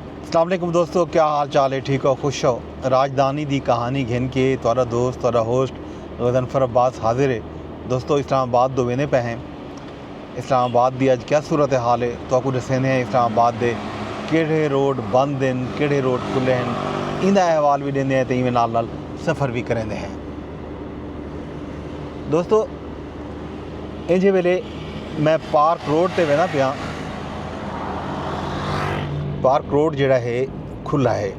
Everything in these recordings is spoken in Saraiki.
اسلام علیکم دوستو کیا حال چال ہے ٹھیک ہو خوش ہو راجدھانی دی کہانی گھن کے تہاڈا دوست تہاڈا ہوسٹ غضنفر عباس حاضر ہے دوستو اسلام آباد دو ویندے پے ہیں اسلام آباد دی اج کیا صورتحال ہے تو کو ڈسیندے ہیں اسلام آباد دے کیڑھے روڈ بند ہیں کیڑھے روڈ کھلے ہیں ایندا احوال بھی ڈیندے ہیں تے ایویں نال نال سفر بھی کریندے ہیں دوستو اینجھے ویلے میں پارک روڈ تے وینا پیاں پارک روڈ جڑا ہے کھلا ہے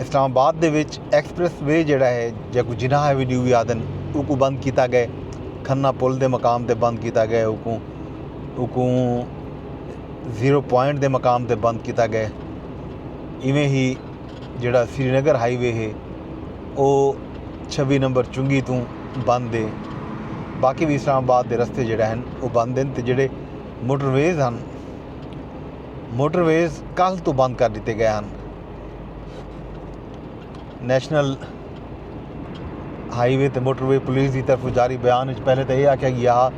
اسلام آباد دے وچ ایکسپریس وے جڑا ہے جے کو جناح ایوینیو بھی آدن او کو بند کیتا گئے کھنہ پل دے مقام تے بند کیتا گئے او کو او کو زیرو پوائنٹ دے مقام تے بند کیتا گئے ایویں ہی جیڑھا سری نگر ہائی وے ہے او چھوی نمبر چنگی توں بند ہے باقی بھی اسلام آباد دے رستے جیڑھے ہن او بند ہن تے جیڑھے موٹر ویز ہن موٹر ویز کل تو بند کر دیتے گئے ہن نیشنل ہائی وے تے موٹر وے پولیس دی طرف جاری بیان وچ پہلے تو یہ آکھیا گیا ہا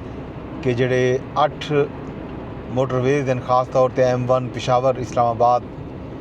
کہ جڑے اٹھ موٹر ویز ہیں خاص طور تے ایم ون پشاور اسلام آباد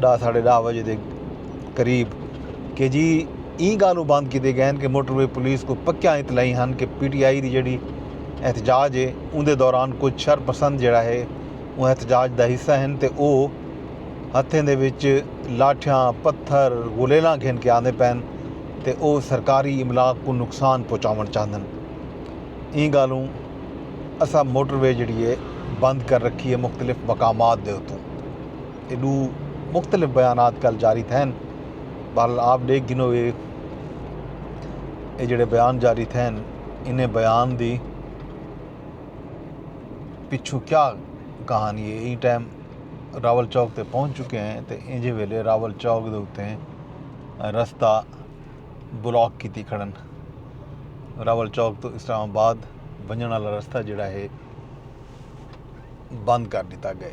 ڈاہ ساڑھے ڈاہ وجے دے قریب کہ جی ای گالوں بند کیتے گئے ہیں کہ موٹر وے پولیس کو پکیا اطلاعی ہن کہ پی ٹی آئی دی جڑی احتجاج ہے ان دے دوران کچھ شر پسند جڑا ہے وہ احتجاج دا حصہ ہیں تے او ہتھیں دے وچ لاٹھیاں پتھر گولیلاں گھن کے آندے پین تے او سرکاری املاک کو نقصان پہنچاون چاہندن ای گالوں اسا موٹر وے جڑی ہے بند کر رکھی ہے مختلف مقامات دے اتوں اے ڈو مختلف بیانات کل جاری تھین بہرحال آپ ڈیکھ گھنو گے اے جڑے بیان جاری تھین انہیں بیان دی پچھو کیا کہانی ہے این ٹائم راول چوک تے پہنچ چکے ہیں تے انجے ویلے راول چوک دے اتے ہیں رستہ بلاک کی تی کھڑن راول چوک تو اسلام آباد بنجن والا رستہ جڑا ہے بند کر دیتا گئے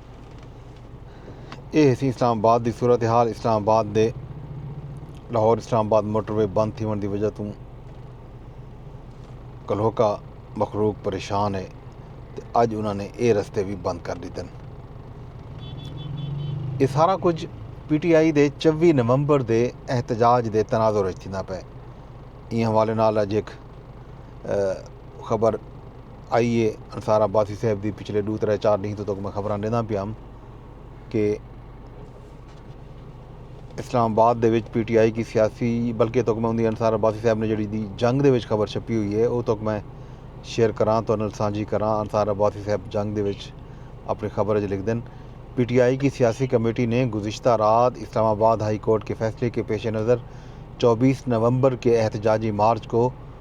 اے ہسی اسلام آباد دی صورتحال اسلام آباد دے لاہور اسلام آباد موٹر وے بند تھیوݨ دی وجہ توں کلہوکا مخلوق پریشان ہے تے اج انہاں نے اے رستے وی بند کر ݙیتن اے سارا کچھ پی ٹی آئی دے چوی نومبر دے احتجاج دے تناظر وچ تھیندا پئے ایں حوالے نال اج ہک خبر آئی اے انصار عباسی صاحب دی پچھلے ڈو ترے چار ڈینہہ توں تک میں خبراں ڈینداں پیا ہم کہ اسلام آباد دے وچ پی ٹی آئی کی سیاسی بلکہ تک میں اندی انصار عباسی صاحب نے جڑی دی جنگ دے وچ خبر چھپی ہوئی ہے او تک میں شیئر کراں تو انل سانجھی کراں انصار عباسی صاحب جنگ دے وچ اپنی خبر اچ لکھ دن پی ٹی آئی کی سیاسی کمیٹی نے گزشتہ رات اسلام آباد ہائی کورٹ کے فیصلے کے پیش نظر چوبیس نومبر کے احتجاجی مارچ کو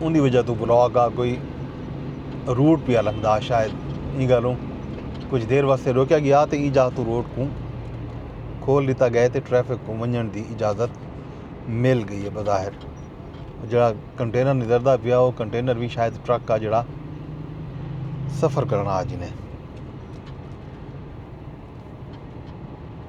اوندی وجہ توں بلاک آ کوئی روٹ پیا لگدا شاید ایں گالوں کچھ دیر واسطے روکیا گیا تے ایں جاہ توں روٹ کوں کھول دیتا گئے تے ٹریفک کوں ونجن دی اجازت مل گئی ہے بظاہر جڑا کنٹینر نظردہ پیا وہ کنٹینر بھی شاید ٹرک کا جڑا سفر کرنا آج نے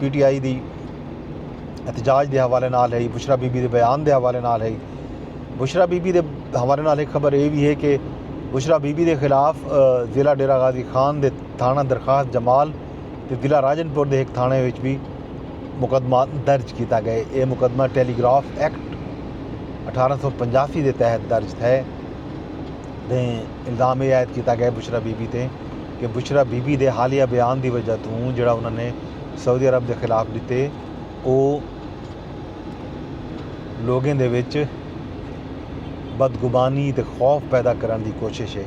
پی ٹی آئی دی احتجاج دے حوالے نال ہئی بشرا بی بی دے بیان دے حوالے نال ہئی بشرا بی بی دے حوالے نال ایک خبر اے وی ہے کہ بشرا بی بی دے خلاف ضلع ڈیرہ غازی خان دے تھانہ درخواست جمال تے ضلع راجن پور دے ہک تھانے وچ بھی مقدمہ درج کیتا گئے اے مقدمہ ٹیلی گراف ایکٹ اٹھارہ سو پنجاسی دے تحت درج تھے دیں الزام اے عائد کیتا گئے بشرا بی بی تے کہ بشریٰ بی بی دے حالیہ بیان دی وجہ توں جیڑھا انہاں نے سعودی عرب دے خلاف ݙتے او لوکیں دے وچ بدگمانی تے خوف پیدا کرݨ دی کوشش اے۔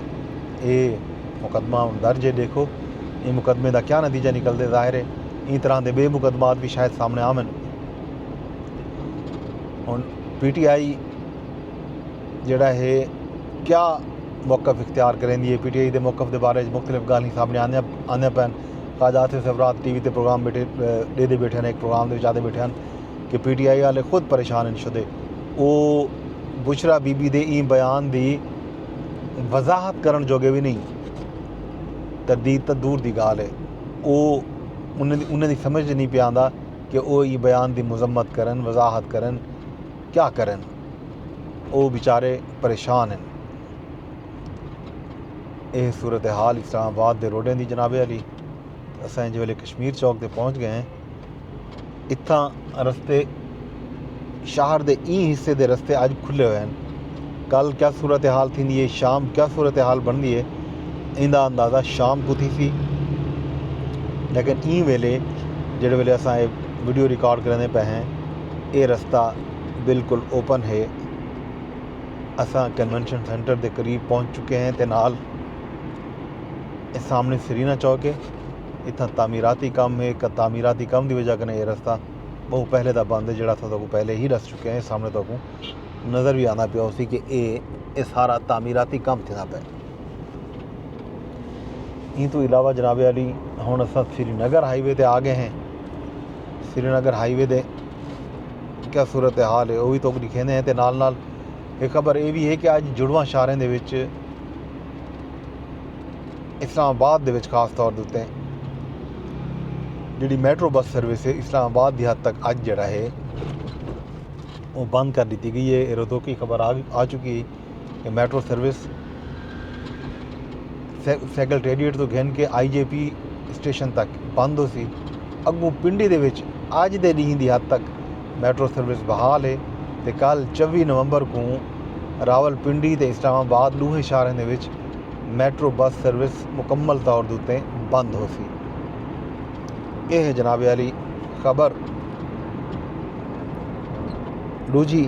اے مقدمہ ہݨ درج اے ݙیکھو ایں مقدمے دا کیا نتیجہ نکلدے ظاہر اے ایں طرح دے ٻئے مقدمات وی شاید سامݨے آون۔ ہݨ پی ٹی آئی جیڑھا ہے کیا موقف اختیار کریندی ہے پی ٹی آئی دے موقف دے بارے وچ مختلف گالھیں سامنے آندیاں آندیاں پن خواجہ آصف سفرات ٹی وی تے پروگرام بیٹھے ڈے دے بیٹھے ہیں ایک پروگرام دے وچ آدے بیٹھے ہیں کہ پی ٹی آئی والے خود پریشان ہیں شدے او بشرا بی بی دے این بیان دی وضاحت کرن جو گے بھی نہیں تردید تا دور دی گال ہے او انہیں دی, انہیں دی سمجھ نہیں پہ آندا کہ او ای بیان دی مذمت کرن وضاحت کرن کیا کرن او وچارے پریشان ہن۔ اے صورتحال اسلام آباد دے روڈیں دی جناب عالی۔ اساں انج ویلے کشمیر چوک تے پہنچ گئے ہیں۔ اتھاں رستے شہر دے ایں حصے دے رستے اج کھلے ہوئے ہیں۔ کل کیا صورتحال تھیندی ہے شام کیا صورتحال بندی ہے ایندا اندازہ شام کو تھی سی لیکن ایں ویلے جڑے ویلے اساں اے ویڈیو ریکارڈ کرنے پہ ہیں اے رستہ بالکل اوپن ہے اساں کنونشن سینٹر دے قریب پہنچ چکے ہیں تے نال اے سامنے سرینا چوک ہے اتھاں تعمیراتی کم ہے تعمیراتی کم دی وجہ کنے اے رستہ بہو پہلے دا بند ہے جڑا اساں تہاکوں پہلے ہی ڈس چکے ہیں سامنے تہاکوں نظر وی آندا پیا ہوسی کہ اے اے سارا تعمیراتی کم تھیندا پیا ایں تو علاوہ جناب علی ہن اساں سری نگر ہائی وے تے آ گئے ہیں سری نگر ہائی وے دے کیا صورتحال ہے او وی تہاکوں ݙکھیندے ہیں تے نال نال ہک خبر اے وی ہے کہ اڄ جڑواں شہراں دے وچ اسلام آباد دے وچ خاص طور دے اتے جیڑھی میٹرو بس سروس ہے اسلام آباد دی حد تک اج جیڑا ہے او بند کر ݙتی گئی ہے اے رتوکی خبر آ چکی ہے کہ میٹرو سروس سیکرٹریٹ تو گھن کے آئی جے پی اسٹیشن تک بند ہو سی اگوں پنڈی دے وچ اج دے ڈینہہ دی حد تک میٹرو سروس بحال ہے تے کل چوی نومبر کو راول پنڈی تے اسلام آباد ڈوہیں شہریں دے وچ میٹرو بس سروس مکمل طور دوتے بند ہو سی اے ہے جناب علی خبر ڈوجی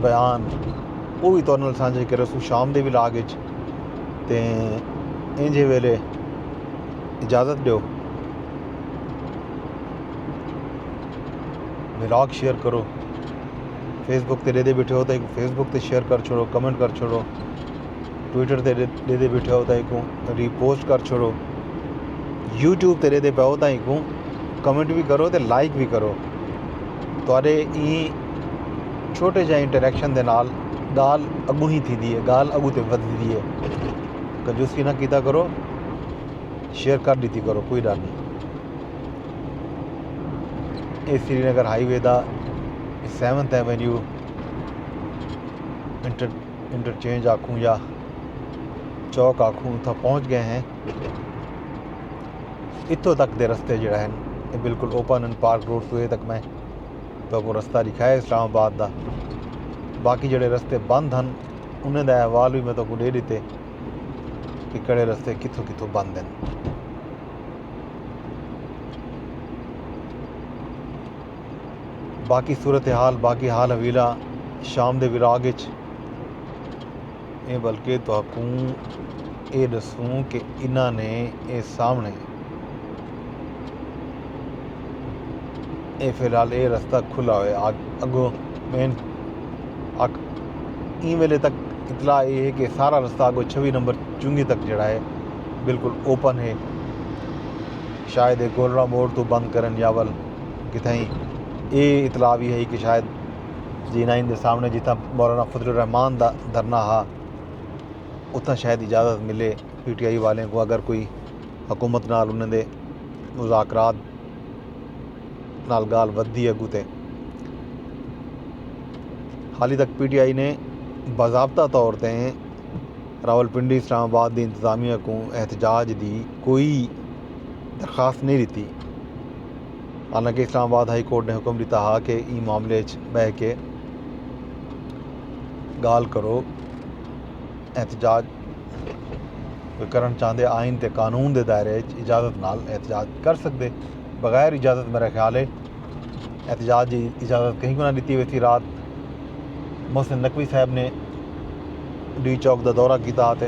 بیان او وی تہاڈے نال سانجھے کریسوں شام دے ولاگ اچ تے اینجھے ویلے اجازت ڈیو ولاگ شیئر کرو فیس بک تے ڈیدے بیٹھے ہو تے فیس بک تے شیئر کر چھوڑو کمنٹ کر چھوڑو ٹویٹر تے ڈیدے بیٹھے ہو تے کو ری پوسٹ کر چھوڑو یوٹیوب تے ڈیدے پاؤ تے کو کمنٹ بھی کرو تے لائک بھی کرو تہاڈے ای چھوٹے جے انٹریکشن دے نال گال اگوں ہی تھی دی ہے گال اگوں تے ودھی دی ہے کنجوسی نہ کیتا کرو شیئر کر دیتی کرو کوئی ڈر نہیں اے سری نگر ہائی وے دا سیونتھ ایونیو انٹر انٹرچینج آکھوں یا چوک آکھوں اتنا پہنچ گئے ہیں اتوں تک دے رستے جڑا ہیں بالکل اوپن اینڈ پارک روڈ سوئے تک میں تہاکوں رستہ ݙکھائے اسلام آباد دا باقی جیڑھے رستے بند ہن انہیں دا احوال وی میں تہاکوں ݙے ݙتے کہ کیڑھے رستے کتھوں کتھوں بند ہن باقی صورتحال باقی حال حویلاں شام دے وراغ اچ اے بلکہ تہاکوں اے ݙسوں کہ انھاں نے اے سامݨے اے فی الحال اے رستہ کھلا ہوئے اگوں مین اک ایں ویلے تک اطلاع اے ہے کہ سارا رستہ اگوں چھوی نمبر چنگی تک جڑا ہے بالکل اوپن ہے شاید اے گولڑا موڑ تو بند کرن یا ول کتھائیں اے اطلاع بھی ہے کہ شاید زینہ ایندے سامنے جتھاں مولانا فضل الرحمان دا دھرنا ہا اتھاں شاید اجازت ملے پی ٹی آئی والیں کو اگر کوئی حکومت نال انہاں دے مذاکرات نال گال ودھی اگو تے حالی تک پی ٹی آئی نے باضابطہ طور تے راولپنڈی اسلام آباد دی انتظامیہ کو احتجاج دی کوئی درخواست نہیں ڈتی حالانکہ اسلام آباد ہائی کورٹ نے حکم ڈتا ہا کہ ایں معاملے اچ بہہ کے گالھ کرو احتجاج کوئی کرنڑ چاہندے آئین تے قانون دے دائرے اچ اجازت نال احتجاج کر سکدے بغیر اجازت میرا خیال ہے احتجاج دی اجازت کہیں کو نہ ڈتی ویسی رات محسن نقوی صاحب نے ڈی چوک دا دورہ کیتا تے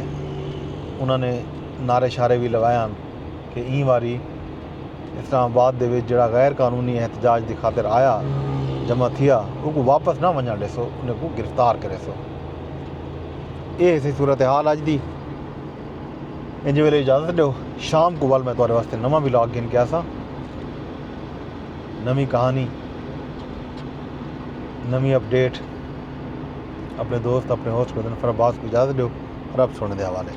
انہاں نے نعرے شارے بھی لگائے ہن کہ ایں واری اسلام آباد دے وچ جیڑھا غیر قانونی احتجاج دی خاطر آیا جمع تھیا اوکوں واپس نہ ونجنڑ ڈیسو انہاں کوں گرفتار کریسو اے ہسی صورتحال اج دی انج ویلے اجازت ڈیو شام کو ول میں تہاڈے واسطے نواں ولاگ گھن کے آساں نویں کہانی نویں اپ ڈیٹ اپنے دوست اپنے ہوسٹ بدن فرباز کو اجازت ڈیو رب سونے دے حوالے